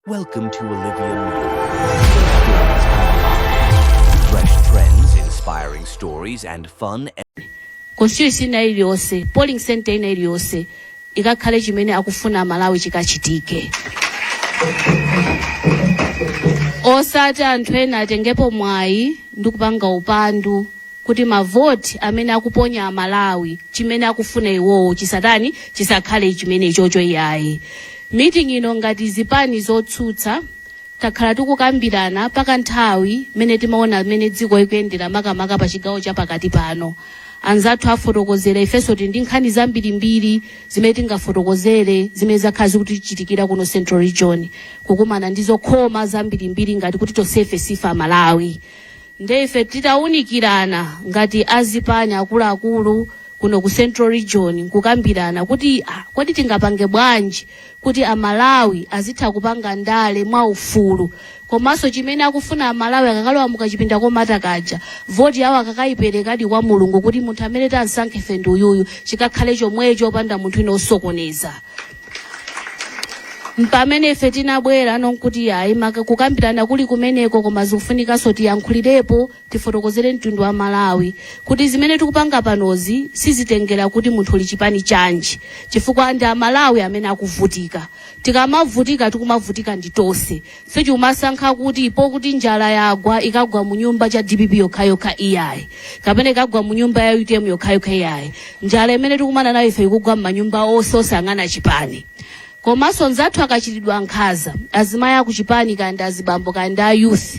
Welcome to Olivia Fresh trends, inspiring stories, and fun. constituency ina iliyonse polling center ina iliyonse ikakhale chimene akufuna amalawi chikachitike osati anthu ena atengepo mwayi ndi kupanga upandu kuti mavoti amene akuponya amalawi chimene akufuna iwowo chisatani chisakhale chimenechocho iyayi Meeting ino ngati zipani zotsutsa takhala tikukambirana pa kanthawi mene timaona mene dziko ikuyendera makamaka pa chigawo cha pakati pano. Anzathu afotokozera ifenso tili ndi nkhani zambirimbiri zimene tingafotokozere zimene zakhala zikutichitikira kuno Central Region. Kukumana ndi zokhoma zambirimbiri ngati kuti tonsefe sife a Malawi. Nde ife titawunikirana ngati azipani akuluakulu kuno ku central region nkukambirana kuti ah kodi tingapange bwanji kuti a Malawi azitha kupanga ndale mwa ufulu komanso chimene akufuna a Malawi akakalowa mu kachipinda kovotera kaja voti yawo akakayiperekadi kwa Mulungu kuti munthu amene tamusankha ife ndi uyuyu chikakhale chomwecho opanda munthu wina osokoneza. mpamene ife tinabwerano nkuti ayi maka kukambirana kuli kumeneko koma zikufunikanso tiyankhulirepo tifotokozere mtundu wa malawi kuti zimene tikupanga panozi sizitengera kuti munthu uli chipani chanji chifukwa ndi amalawi amene akuvutika tikamavutika tikumavutika ndi tonse sichikumasankha kuti pokuti njala yagwa ikagwa mu nyumba cha dpp yokhayokha iyayi kapena ikagwa mu nyumba ya utm yokhayokha iyayi njala imene tikumana nayo ife ikugwa m'manyumba onse osang'ana chipani komanso nzathu akachitidwa nkhaza azimayi akuchipani kaya ndi azibambo kaya ndi a youth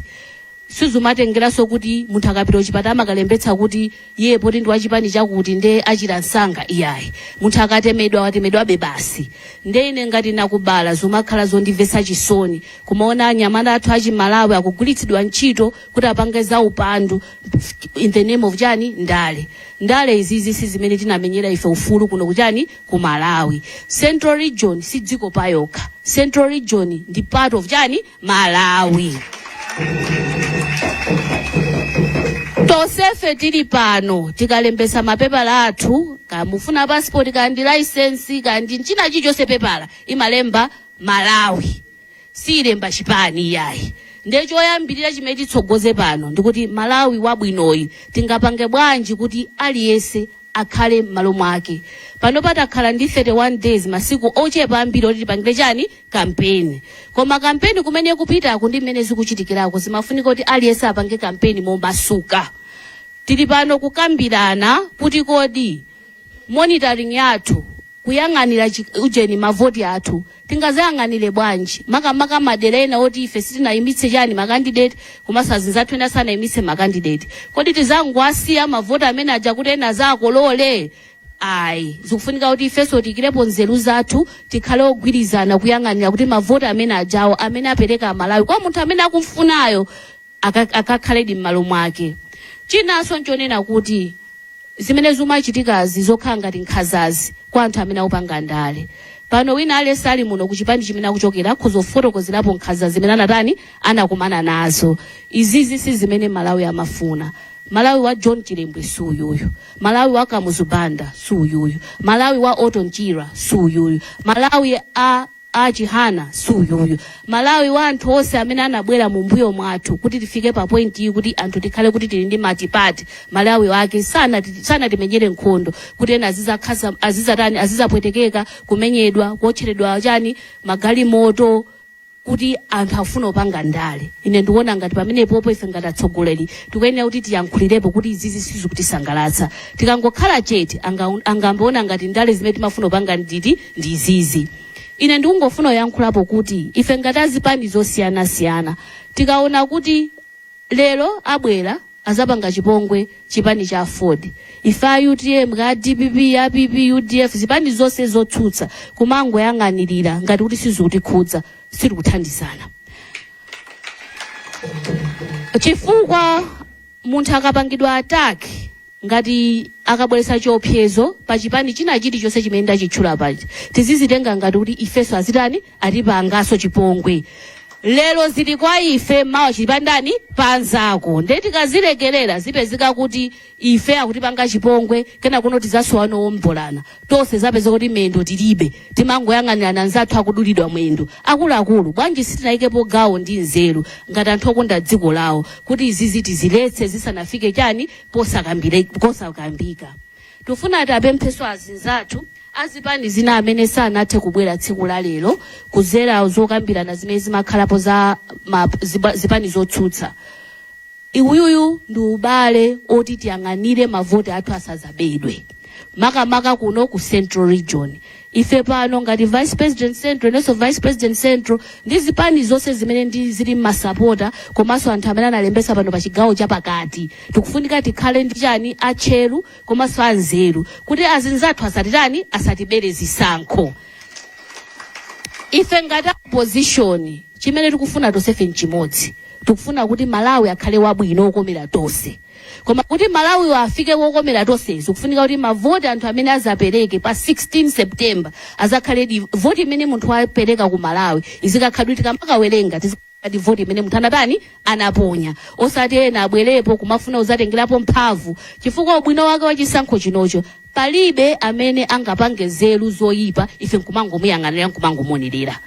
sizumatengeranso kuti munthu akapita kuchipatala amakalembetsa kuti iye poti ndi wachipani chakuti nde achira nsanga iyayi munthu akatemedwa watemedwabe basi nde ine ngati nakubala zumakhala zondimvetsa chisoni kumaona anyamata athu achimalawi akugwiritsidwa ntchito kuti apange za upandu in the name of chani ndale ndale izizi si zimene tinamenyera ife ufulu kuno kuchani ku malawi central region si dziko payokha central region ndi part of chani malawi tonsefe tili pano tikalembesa mapepala athu kaya mufuna passport kaya ndi license kaya ndi china chichonse pepala imalemba malawi siilemba chipani iyayi nde choyambirira chimene titsogoze pano ndikuti malawi wabwinoyi tingapange bwanji kuti aliyense akhale m'malo mwake pano patakhala ndi 31 days masiku ochepa ambiri oti tipangire chani kampeni koma kampeni kumene kupitaku ndi mmene zikuchitikirako zimafunika kuti aliyense apange kampeni momasuka tili pano kukambirana kuti kodi monitoring yathu kuyang'anira ujeni mavoti athu tingazayang'anire bwanji makamaka madera ena oti ife sitinayimitse chani makandideti komanso azinzathu ena sanayimitse makandideti kodi tizangowasiya mavoti amene aja kuti ena azakolole ayi zikufunika kuti ifenso tiikirepo nzeru zathu tikhale ogwirizana kuyang'anira kuti mavoti amene ajawo amene apereka amalawi kwa munthu amene akumfunayo aka- akakhaledi m'malo mwake chinanso nchonena kuti zimene zimachitikazi zokhala ngati nkhanzazi kwa anthu amene akupanga ndale pano wina aliyense ali muno kuchipani chimene akuchokera akhoza kufotokozerapo nkhanza zimene anatani anakumana nazo izizi si zimene malawi amafuna malawi wa john chilembwe si uyuyu Malawi wa Kamuzu Banda suyuyu, Malawi wa Orton Chirwa suyuyu, Malawi a Chihana suyuyu, Malawi wa anthu onse amene anabwera mu mbuyo mwathu kuti tifike pa point iyi kuti anthu tikhale kuti tili ndi matipati. Malawi wake sanati- sanatimenyere nkhondo kuti ena azizapwetekeka kumenyedwa kuotcheredwa chani magalimoto kuti anthu akufuna kupanga ndale. Ine ndikuona ngati pamenepopo ife ngati atsogoleri tikuyenera kuti tiyankhulirepo kuti izizi sizikutisangalatsa. Tikangokhala chete anga- angamaone ngati ndale zimene timafuna kupanga ndithu ndi izizi. Ine ndikungofuna kuyankhulapo kuti ife ngati azipani zosiyanasiyana tikaona kuti lero abwera azapanga chipongwe chipani cha aford ife a utm kaya dpp a pp udf zipani zonse zotsutsa kumangoyang'anirira ngati kuti sizikutikhudza sitikuthandizana chifukwa munthu akapangidwa attack ngati akabweretsa chiopsezo pa chipani china chilichonse chimene ndachitchula paja tizizitenga ngati kuti ifeso azitani atipangaso chipongwe lero zili kwa ife mawa chili pa ndani pa anzako nde tikazilekerera zipezeka kuti ife akutipanga chipongwe kenako tizasowa owombolana tonse tizapezeka kuti miyendo tilibe timangoyang'anirana anzathu akudulidwa mwendo akuluakulu bwanji sitinayikepo gawo ndi nzeru ngati anthu okonda dziko lawo kuti izizi tiziletse zisanafike chani posakambire- posakambika Tifuna tiwapempheso azinzathu azipani zina amene sanathe kubwera tsiku la lero kudzera zokambirana zimene zimakhalapo za ma, ziba, zipani zotsutsa uwuwu ndi ubale oti tiyang'anire mavoti athu asazabedwe makamaka kuno ku central region Ife pano ngati Vice President Central inenso Vice President Central ndi zipani zonse zimene zili ndi masapota komanso anthu amene analembetsa pano pa chigawo cha pakati tikufunika tikhale ndi chani atcheru komanso anzeru kuti azinzathu asatitani asatibere zisankho ife ngati opposition chimene tikufuna tonsefe nchimodzi tikufuna kuti malawi akhale wabwino okomera tonse koma kuti malawiwo afike pokomera tonse zikufunika kuti mavoti anthu amene azapereke pa 16 september azakhaledi voti imene munthu wapereka ku malawi izikakhaladi tikamakawerenga tizikati voti imene munthu anatani anaponya osati ena abwerepo kumafuna kuzatengerapo mphamvu chifukwa ubwino wake wa chisankho chinocho Palibe amene angapange nzeru zoyipa ife nkumangomuyang'anira nkumangomuonerera.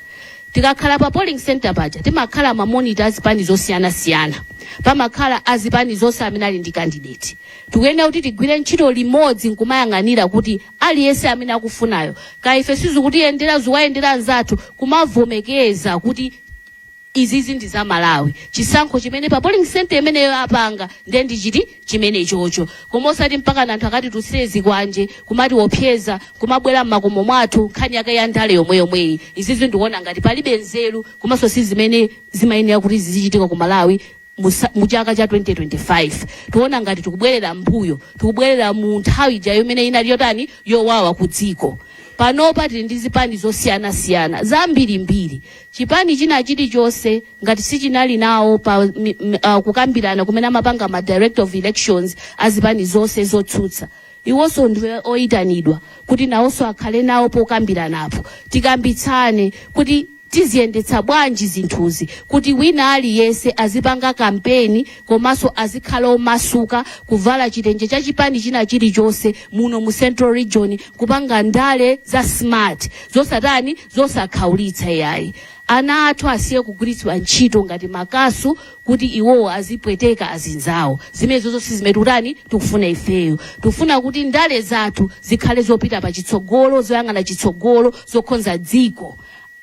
Tikakhala pa polling centre paja timakhala ma monitor a zipani zosiyanasiyana. Pamakhala a zipani zonse amene ali ndi candidate. Tikuyenera kuti tigwire ntchito limodzi nkumayang'anira kuti aliyense amene akufunayo kaya ife sizikutiyendera zikuwayendera anzathu kumavomereza kuti. izizi ndi za Malawi. Chisankho chimene pa polling centre imeneyo apanga ndiye ndi chiti chimenechocho. Koma osati mpakana anthu akatitusire zikwanje, kumatiopseza, kumabwera m'makomo mwathu nkhani yake ya ndale yomweyomweyi. Izizi ndikuona ngati palibe nzeru komanso si zimene zimayenera kuti zizichitika ku Malawi. mu sa- mu chaka cha 2025 tuona ngati tikubwerera m'mbuyo tikubwerera mu nthawi ija yomwe inali yotani yowawa ku dziko panopa tili ndi zipani zosiyanasiyana zambirimbiri chipani china chilichonse ngati sichinali nawo pa kukambirana kumene amapanga ma director of elections a zipani zonse zotsutsa iwonso ndiwo oyitanidwa kuti nawonso akhale nawo pokambiranapo tikambitsane kuti Tiziyendetsa bwanji zinthuzi kuti wina aliyense azipanga kampeni komanso azikhala omasuka kuvala chitenje cha chipani china chilichonse muno mu Central Region kupanga ndale za smart zosatani zosakhaulitsa iyayi. Ana athu asiye kugwiritsidwa ntchito ngati makasu kuti iwowo azipweteka azinzawo. Zimenezozo si zimene tikutani tikufuna ifeyo. Tikufuna kuti ndale zathu zikhale zopita pachitsogolo, zoyang'ana chitsogolo, zokhonza dziko.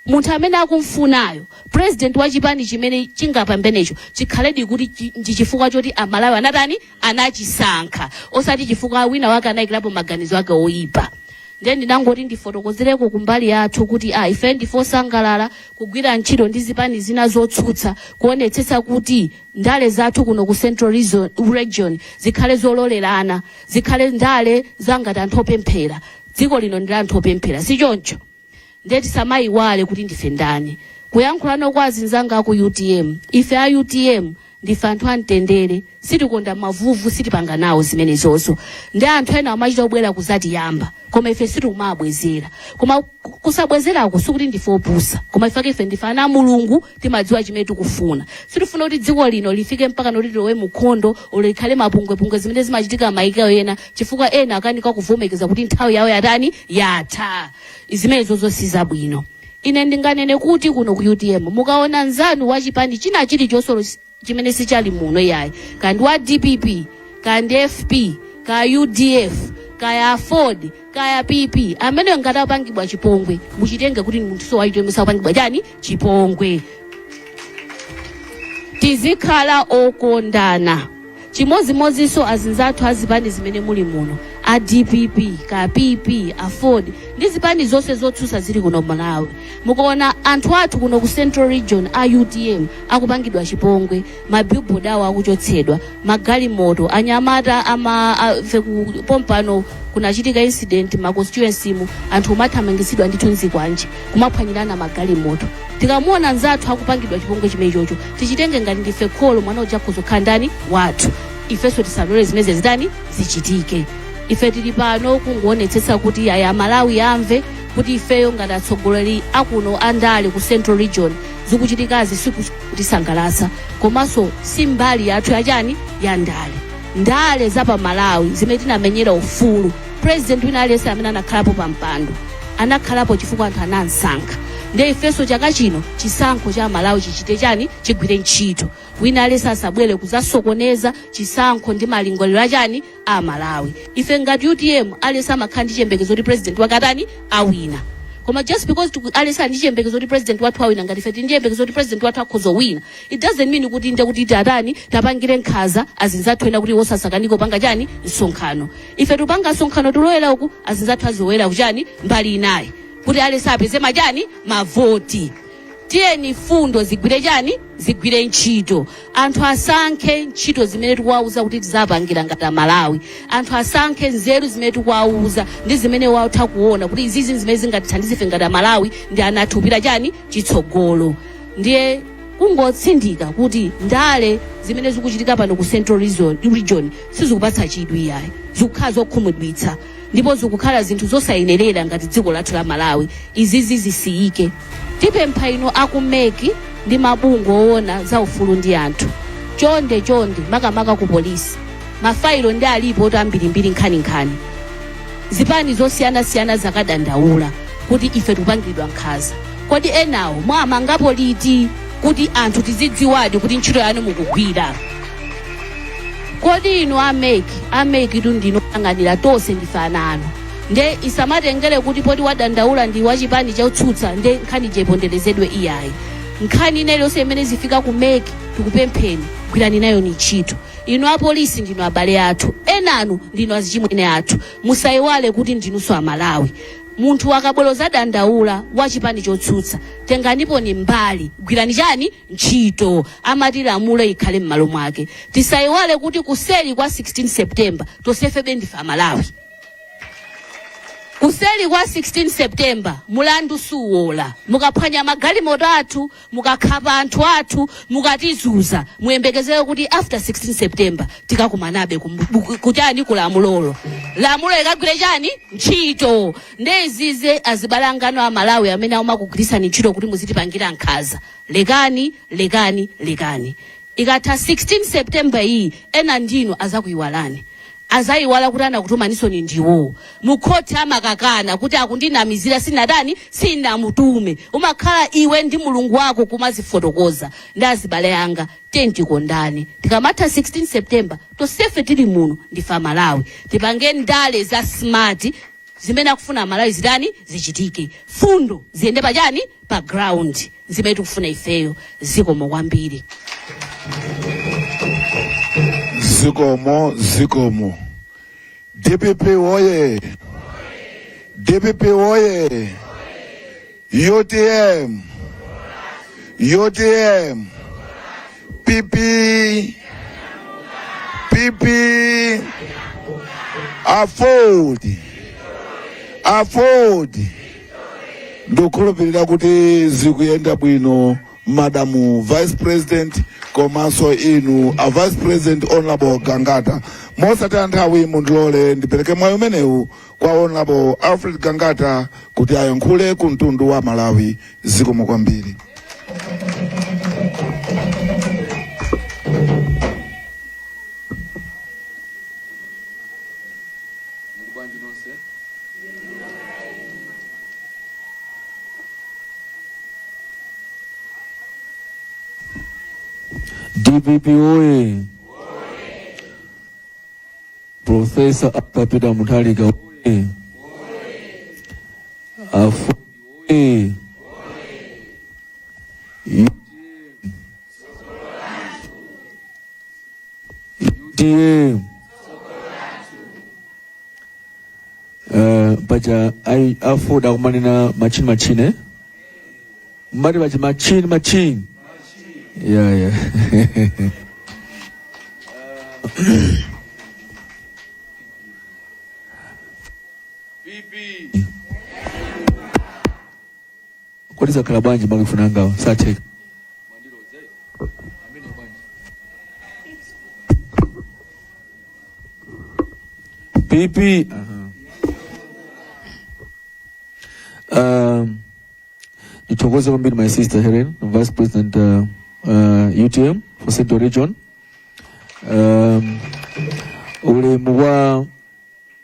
munthu amene akumfunayo president wa chipani chimene chingapambenecho chikhaledi kuti ndi chifukwa choti amalawi anatani anachisankha osati chifukwa wina wake anayikirapo maganizo ake oyipa ndiye ndinangoti ndifotokozereko kumbali yathu kuti ife ndife osangalala kugwira ntchito ndi zipani zina zotsutsa kuonetsetsa kuti ndale zathu kuno ku central region zikhale zololerana zikhale ndale zangati anthu opemphera dziko lino ndi la anthu opemphera si choncho Ndiye tisamaiwale kuti ndife ndani. Kuyankhulano kwa azinzanga ku utm, ife a utm ndife anthu amtendere, sitikonda mavuvu, sitipanga nawo zimenezozo. Ndiye anthu ena amachita kubwera kuzatiyamba koma ife sitikumawabwezera. Koma kusabwezerako sikuti ndife opusa koma chifukwa ife ndife ana a Mulungu. timadziwa chimene tikufuna sitifuna kuti dziko lino lifike mpaka noti lilowe mukhondo olo likhale mapungwepungwe zimene zimachitika maiko ena chifukwa ena akanika kuvomekeza kuti nthawi yawo yatani yatha zimenezozo sizabwino ine ndinganene kuti kuno ku utm mukaona nzanu wa chipani china chilichonse chimene sichali muno iyayi kaya ndi wa dpp kaya ndi fp kaya udf kaya aford kaya pp ameneyo ngati apangidwa chipongwe muchitenge kuti munthu so wa UTM akupangidwa chani chipongwe tizikhala okondana Chimodzimodzinso azinzathu a zipani zimene muli muno, a dpp kaya PP, aford ndi zipani zonse zotsutsa zili kuno Malawi. Mukaona anthu athu kuno ku Central Region a utm akupangidwa chipongwe, ma billboard awo akuchotsedwa, magalimoto, anyamata ama a- ife pompano kunachitika incident ma constituency mu anthu kumathamangitsidwa ndithu nzikwanje. kumaphwanyirana magalimoto tikamuona nzathu akupangidwa chipongwe chimenechocho tichitenge ngati ndife kholo mwana uja kuzokhala ndani wathu ifenso tisalole zimenezi zitani zichitike ife tili pano kungoonetsetsa kuti Amalawi amve kuti ifeyo ngati atsogoleri akuno andale ku central region zikuchitikazi sizikutisangalatsa komanso si mbali yathu yachani ya ndale ndale za pamalawi zimene tinamenyera ufulu president wina aliyense amene anakhalapo pa mpando anakhalapo chifukwa anthu anamsankha nde ifenso chaka chino chisankho cha Amalawi chichite chani chigwire ntchito wina aliyense asabwere kuzasokoneza chisankho ndi malingaliro achani a malawi ife ngati utm aliyense amakhala ndi chiyembekezo kuti president wakatani awina koma just because tiku- aliyense ali ndi chiyembekezo kuti president wathu awina ngati ife tili ndi chiyembekezo kuti president wathu akhoza kuwina it doesn't mean kuti nde kuti tatani tapangire nkhaza azinzathu ena kuti wosaso akanike kupanga chani msonkhano ife tupanga msonkhano tulowera uku azinzathu azilowera kuchani mbali inayo kuti aliyense apeze machani mavoti tiyeni fundo zigwire chani zigwire ntchito anthu asankhe ntchito zimene tikuwauza kuti tizapangira ngati amalawi anthu asankhe nzeru zimene tikuwauza ndi zimene atha kuona kuti izizi zimene zingatithandize ife ngati amalawi ndi ana athu kupita chani chitsogolo ndiye kungotsindika kuti ndale zimene zikuchitika pano ku central region sizikupatsa chidwi yayi zikukhala zokhumudwitsa ndipo zikukhala zinthu zosayenerera ngati dziko lathu la malawi izizi zisiyike tipempha ino akumeki ndi mabungwe owona za ufulu wa anthu chonde chonde makamaka ku polisi mafailo nde alipo oti ambirimbiri nkhaninkhani zipani zosiyanasiyana zakadandaula kuti ife tikupangidwa nkhaza kodi enawo mwamangapo liti kuti anthu tizidziwadi kuti ntchito yanu mukugwira kodi inu ameki ameki tu ndinu oyang'anira tonse ndife ana anu nde isamatengere kuti poti wadandaula ndi wachipani chotsutsa nde nkhani ija iponderezedwe iyayi nkhani ina iliyonse imene zifika ku meki tikupempheni gwirani nayoni ntchito inu apolisi ndinu abale athu enanu ndinu azichimwene athu musayiwale kuti ndinunso amalawi Munthu akabwera kuzadandaula wa chipani chotsutsa tenganiponi mbali gwirani chani ntchito amati lamulo ikhale mmalo mwake tisaiwale kuti kuseli kwa 16 September tosefebe ndife amalawi kuseli kwa 16 September mulandu suwola mukaphwanya magalimoto athu mukakhapa anthu athu mukatizuza muyembekezere kuti after 16 september tikakumanabe kuchani ku lamulolo lamulo likagwire chani ntchito nde izizi azibale anganu amalawi amene amakugwirisani ntchito kuti muzitipangira nkhaza lekani lekani lekani ikatha 16 september iyi ena a inu azakuyiwalani azayiwala kuti anakutumaninso ndi iwo mu khoti amakakana kuti akundinamizira sinatani sinamutume umakhala iwe ndi mulungu wako kumazifotokoza nde azibale anga tiyeni tikondane tikamatha 16 september tosefe tili muno ndife amalawi tipange ndale za smart zimene akufuna amalawi zitani zichitike fundo ziyende pachani pa ground zimene tikufuna ifeyo zikomo kwambiri zikomo zikomo Dpp woye! Dpp woye! UTM! UTM! PP! PP! Aford! Aford! Ndukhulupirira kuti zikuyenda bwino madamu vice president komanso inu a vice president honorable gangata mosataya nthawi mundilole ndipereke mwayi umenewu kwa honorable alfred gangata kuti ayankhule ku mtundu wa malawi zikomo kwambiri dpp oye profesa akapita muthalika oye afundi oye utm Eh, paja ai afuda kumanena machine machine mumati pachi machini machini yeah, yeah. kodi zakhala bwanji makifunangawo satheka PP aha. Um, nithokoze kwambiri my sister Helen, Vice President uh, uh, UTM for Central Region. Um, ulemu wa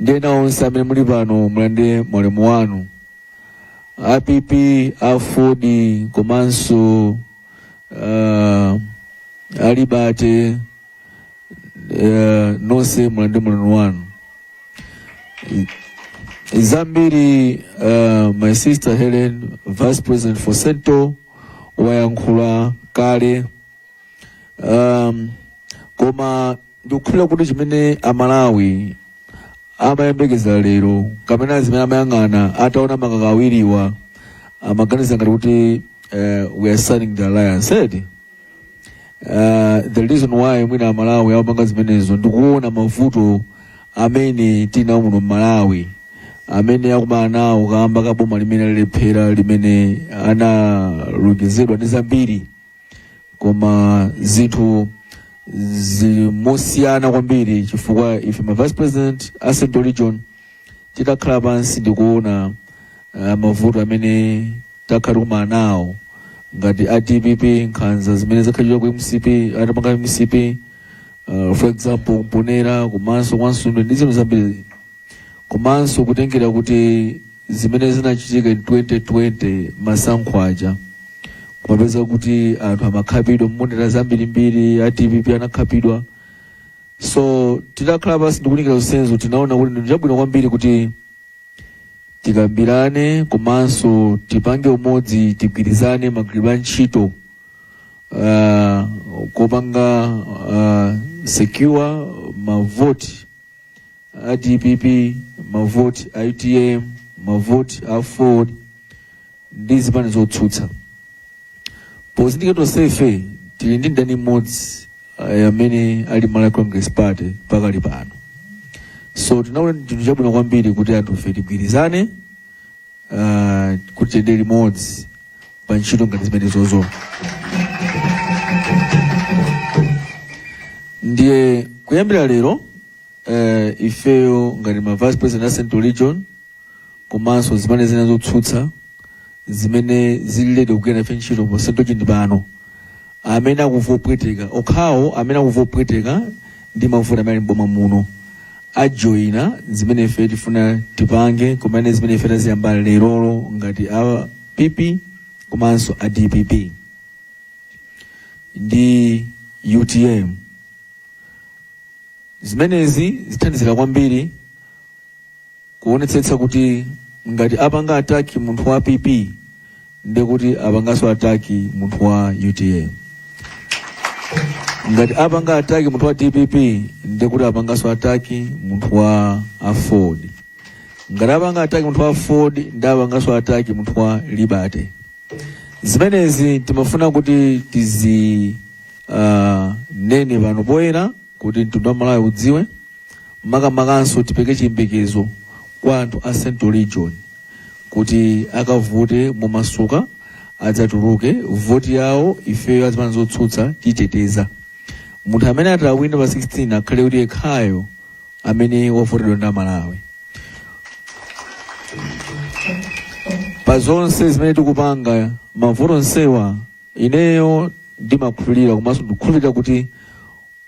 ndi ena onse amene muli pano mulandire ulemu wanu app aford komanso uh, alibate uh, nonse mulandire ulemu wanu zambiri uh, my sister helen vice president for central wayankhula kale um, koma Ndikukhulupirira kuti chimene Amalawi amayembekezera lero kapena zimene amayang'ana ataona makamaka awiriwa amaganiza ngati kuti eh, we are signing the alliance edi uh, the reason why mwina amalawi amapanga zimenezo ndikuona mavuto amene tili nawo muno mmalawi amene akumana nawo kamba ka boma limene lilephera limene analonjezedwa ndi zambiri koma zinthu zimasiyana kwambiri chifukwa ife ma vice president a central region titakhala pansi ndikuona uh, mavuto amene takhala tikumana nawo ngati a dpp nkhanza zimene zakhalidwa ku mcp atapanga mcp uh, for example mponera komanso kwa nsundwe ndi zinthu zambiri komanso kutengera kuti zimene zinachitika in 2020 masankho aja kumapeza kuti anthu amakhapidwa ma monitor zambirimbiri a dpp anakhapidwa so titakhala pansi ndikunikira zonsezo tinaona kuti ndi chabwino kwambiri kuti tikambirane komanso tipange umodzi tigwirizane tigwire ntchito uh, kopanga uh, secure mavoti a dpp, mavoti a utm, mavoti a aford ndi zipani zotsutsa. Pozindikira kuti tonsefe tili ndi mdani mmodzi eh, amene ali Malawi Congress Party pakali pano. So tinaona ndi chinthu chabwino kwambiri kuti anthufe tigwirizane ah, kuti tiyende limodzi pa ntchito ngati zimenezozo. Ndiye kuyambira lero eh, ifeyo ngati ma vice president a central region komanso zipani zina zotsutsa zimene zili ready kugwira nafe ntchito pa central region pano amene akumva kupweteka okhawo amene akumva kupweteka ndi mavuto amene ali mu boma muno ajoyine zimene ife tifuna tipange kumene zimene ife taziyamba lerolo ngati a pp komanso a dpp ndi utm Zimenezi zithandizira kwambiri kuonetsetsa kuti ngati apanga attack munthu wa PP ndiye kuti apanganso attack munthu wa UTM. Ngati apanga attack munthu wa DPP ndiye kuti apanganso attack munthu wa Aford. Ngati apanga attack munthu wa Aford ndiye apanganso attack munthu wa Liberty. Zimenezi timafuna kuti tizi uh, nene pano poyera Kuti mtundu wa Amalawi udziwe, makamakanso tipereke chiyembekezo kwa anthu a Central Region kuti akavote momasuka, adzatuluke, voti yawo ifeyo azipani zotsutsa titeteza. Munthu amene ati awine pa 16 akhale kuti yekhayo amene wavotedwa ndi Amalawi. Pa zonse zimene tikupanga, mavoto onsewa Ineyo ndimakhulupirira komanso ndikukhulupirira kuti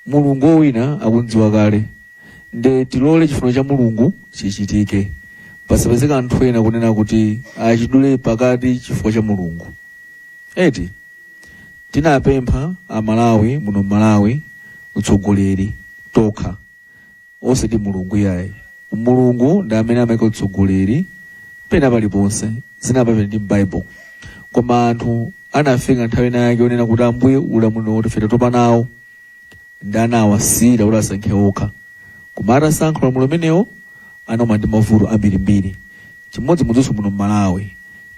Mulungu wowina akumudziwa kale nde tilole chifuniro cha Mulungu chichitike. Pasapezeke anthu ena kunena kuti achidule pakati chifuniro cha Mulungu. Eti tinapempha Amalawi muno m'Malawi utsogoleri tokha. osati mulungu iyayi mulungu ndi amene amaika utsogoleri pena paliponse zinapangikanso ndi m'baibulo koma anthu anafika nthawi ina yake onena kuti ambuye ulamuliro woti ife tatopa nawo ndi anawasiyira kuti asankhe okha koma atasankha ulamuliro umenewo anakumana ndi mavuto ambirimbiri chimodzimodzinso muno m'malawi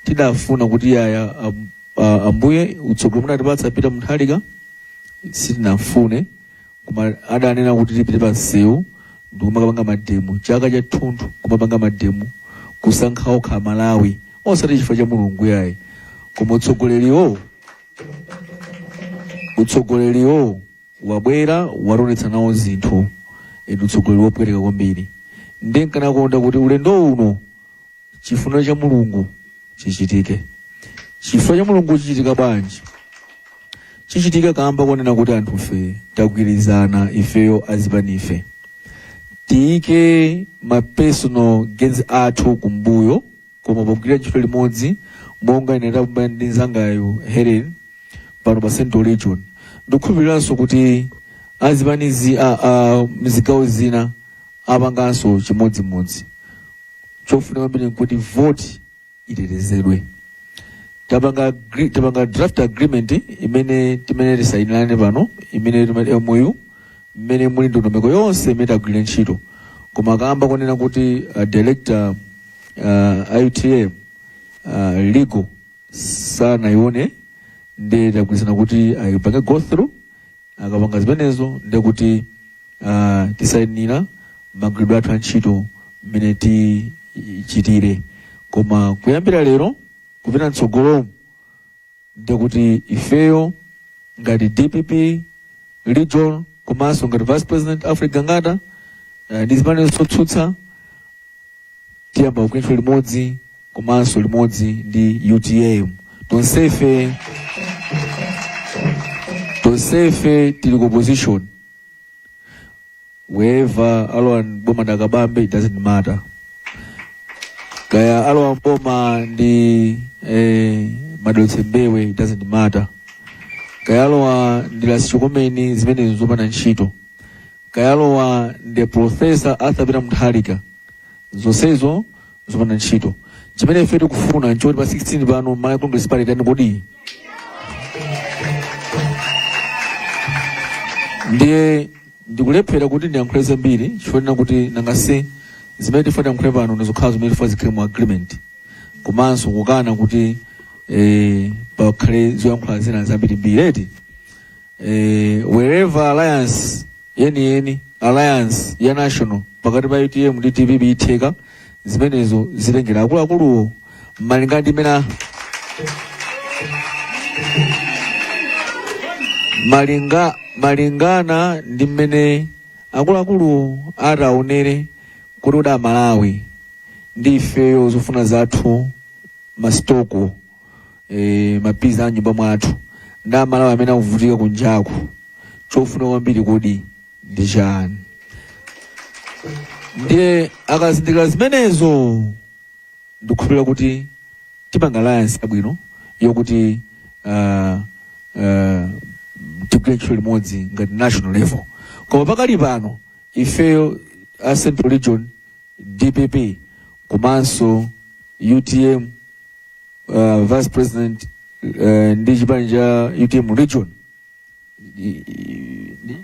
tidafuna kuti iyayi am- a- ambuye utsogoleri munatipatsa peter mutharika sitinaufune koma tidanena kuti tipite pa msewu ndikumakapanga mademo chaka chathunthu kumapanga mademo kusankha okha amalawi osati chifukwa cha mulungu yayi koma utsogoleriwo utsogoleriwo wabwera wationetsa nawo zinthu ndi utsogoleri wopweteka kwambiri ndikanakonda kuti ulendo uno chifuniro cha mulungu chichitike chifuniro cha mulungu chichitika bwanji chichitika kamba konena kuti anthufe tagwirizana ifeyo a zipanife tiyike ma personal gains athu kumbuyo koma pogwira ntchito limodzi monga ine ndapanga ndi nzangayo helen pano pa central region ndikukhulupiriranso kuti azipanizi a, a mzigawo zina apanganso chimodzimodzi. Chofunika kwambiri nkuti voti itetezedwe. Tapanga agri- tapanga draft agreement imene timene tisainirane pano imene timati MOU mmene muli ndondomeko yonse imene tagwirire ntchito koma kamba konena kuti uh, director wa UTM uh, legal sanayione nde tagwirizana kuti ayipange go through akapanga zimenezo ndiye kuti uh, tisayinira magwiridwe athu a ntchito mmene tichitire koma kuyambira lero kupita mtsogolomu ndiye kuti ifeyo ngati dpp region komanso ngati vice president alfred gangata uh, ndi zipani zotsutsa tiyamba kugwira ntchito limodzi komanso limodzi ndi utm tonsefe tili ku opposition wherever alowa boma nda kabambe it doesn't matter kaya alowa mboma ndi eh, a david mbewe it doesn't matter kaya alowa ndi ras chikomeni zimenezo nzopanda ntchito kaya alowa ndi profesa arthur peter mutharika zonsezo zopanda ntchito chimene ife tikufuna nchoti pa 16 pano malawi congress party itani kodi ndiye ndikulephera kuti ndiyankhule zambiri chifukwa kuti nanga si zimene tifuna tiyankhule pano ndizokhala zimene tifuna zikhale mu agreement komanso kukana kuti eh, pakhale zoyankhula zina zambirimbiri eti eh, wherever alliance yeniyeni alliance ya national pakati pa utm ndi dpp itheka zimenezo zitengera akuluakuluwo malingana ndi mmene malingana ndi mmene akuluakulu ataonere kuti kodi amalawi ndi ifeyo zofuna zathu masitoko e, mapiza a mnyumba mwathu ndi amalawi amene akuvutika kunjaku chofuna kwambiri kodi ndi chani ndiye akazindikira zimenezo ndikukhulupirira kuti tipanga alliance yabwino yokuti uh, uh, tigwire ntchito limodzi ngati national level koma pakali pano ifeyo a central region dpp komanso utm uh, vice president uh, ndi chipani cha utm region i- i- ndi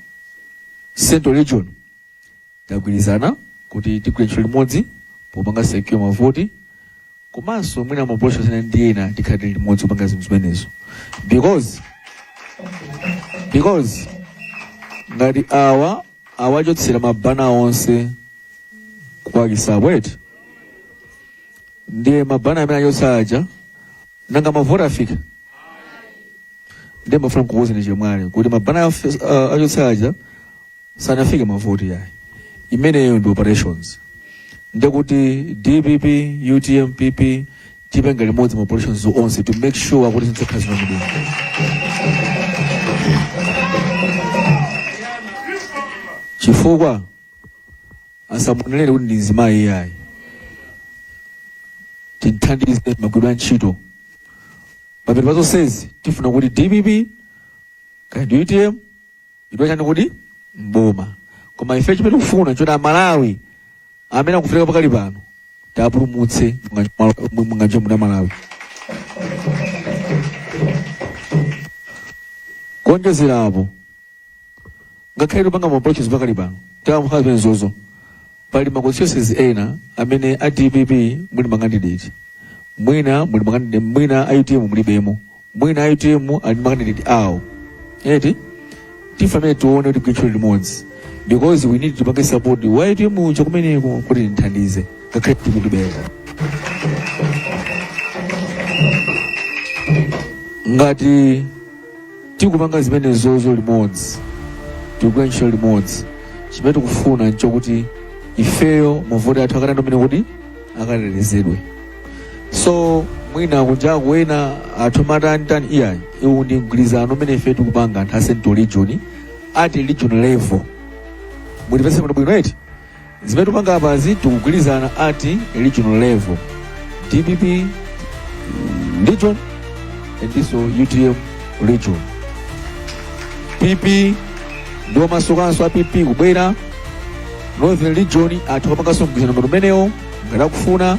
central region tagwirizana kuti tigwire ntchito limodzi popanga secure mavoti komanso mwina maapproach zina ndi ena tikhale tili limodzi kupanga zinthu zimenezo because because ngati awa awachotsera mabana onse kupakisako eti ndiye mabana amene achotsa aja nanga mavoti afika ndimafuna kukuuzani chemwali kuti mabana afe- a- achotsa aja sanafike mavoti yayi imeneyo ndi operations ndiye kuti dpp utm pp tipanga limodzi ma operations onse to make sure kuti zinthu zikhala zina mudima chifukwa asamuonelere kuti ndi mzimayi iyayi timthandize magwiridwe a ntchito pamene pa zonsezi tifuna kuti dpp kaya ndi utm chidwa chani kuti mboma koma ife chimene tikufuna choti amalawi amene akufunika pakali pano tapulumutse mu ng'anjo muno mMalawi kuonjezera apo ngakhale tikupanga maapproaches pakali pano taamukhala zimenezozo pali makonstituencies ena amene a dpp muli makandidate mwina muli makandidate mwina a utm mulibemo mwina utm ali makandideti awo eti tifuna tione kuti tigwire ntchito limodzi because we need to panga support wa utm uja kumeneko kuti timthandize ngakhale tikutibe ngati tikupanga zimenezozo limodzi tikugwira ntchito limodzi chimene tikufuna n'chokuti ifeyo mavoti athu akanati amene kuti akatetezedwe so mwina kunjaku ena athu matanitani iyayi uwu ndi mgwirizano umene ife tikupanga anthu a central region at regional level mutimvetse bwino eti zimene tikupanga apazi tikugwirizana at regional level dpp region ndinso utm region pp ndiwo osati nso a pp kubwera northern region atha kukapanganso mgwirizano muno umenewo ngati akufuna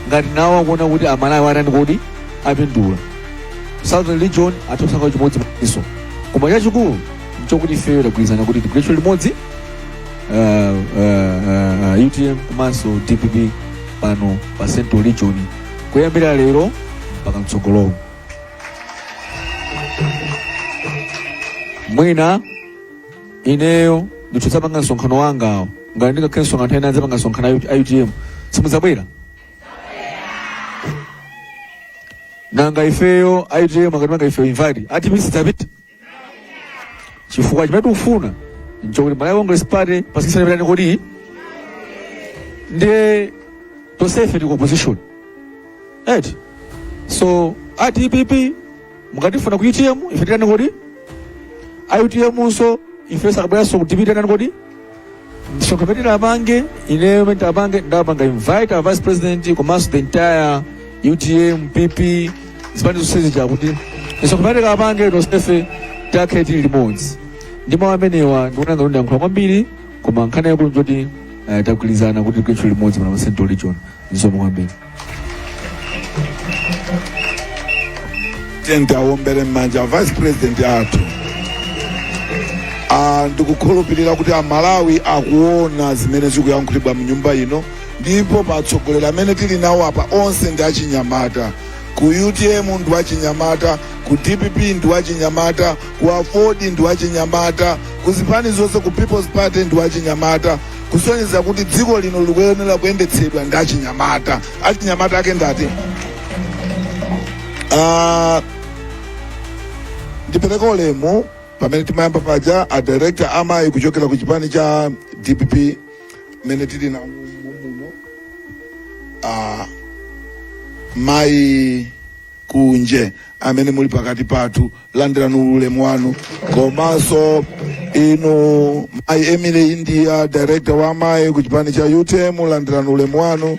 ngati nawo akuona kuti amalawi atani kuti apindula southern region atha kupanga chimodzimodzinso koma chachikulu nchokuti ifeyo tagwirizana kuti tigwire ntchito limodzi uh, uh, uh, utm komanso dpp pano pa central region kuyambira lero mpaka mtsogolowo mwina ineyo ndithu zapanga msonkhano wangawo ngati ndikakhale msonkhano ena akapanga msonkhano a utm simudzabwera nanga ifeyo a utm akatipanga ifeyo invite sitidzapita chifukwa chimene tikufuna nchokuti malawi congress party basi ikusangalala titani kodi ndiye tonsefe tili ku opposition eti so a dpp mukatifuna ku utm ife titani kodi a utm nso ife tizabweranso ku dpp titani kodi msonkhano umene tidapange ineyo umene tidapange ndapanga invite our vice president komanso the entire utm pp zipani zonse zija kuti msonkhano umene tikapange tonsefe tikhale tili limodzi ndi mawu amenewa ndikuona ngati ndiyankhula kwambiri koma nkhani yaikulu njoti tagwirizana kuti tigwire ntchito limodzi pano pa central region zikomo kwambiri president awombere mmanja vice president athu Ah, ndikukhulupirira kuti amalawi akuona zimene zikuyankhulidwa mnyumba ino ndipo atsogoleri amene tili nawo apa onse ndi achinyamata ku utm ndi wachinyamata ku dpp ndi wachinyamata ku aford ndi wachinyamata ku zipani zonse ku people's party ndi wachinyamata kusonyeza kuti dziko lino likuyenera kuyendetsedwa ndi achinyamata achinyamata ake ndi ati Ah, ndipereka ulemu pamene timayamba paja a director a amayi kuchokera ku chipani cha dpp amene tili nawo muno Ah, mayi kunje amene muli pakati pathu landirani ulemu wanu komanso inu mayi emily india director wa amayi ku chipani cha utm landirani ulemu wanu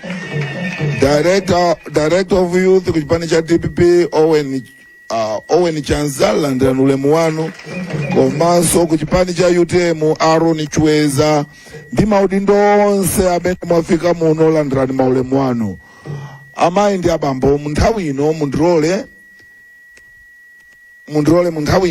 director, director of youth ku chipani cha dpp owen uh, owen chanza landirani ulemu wanu komanso ku chipani cha utm aron chweza ndi maudindo onse amene mwafika muno landirani ulemu wanu amayi ndi abambo mu nthawi ino mundilole mundilole mu nthawi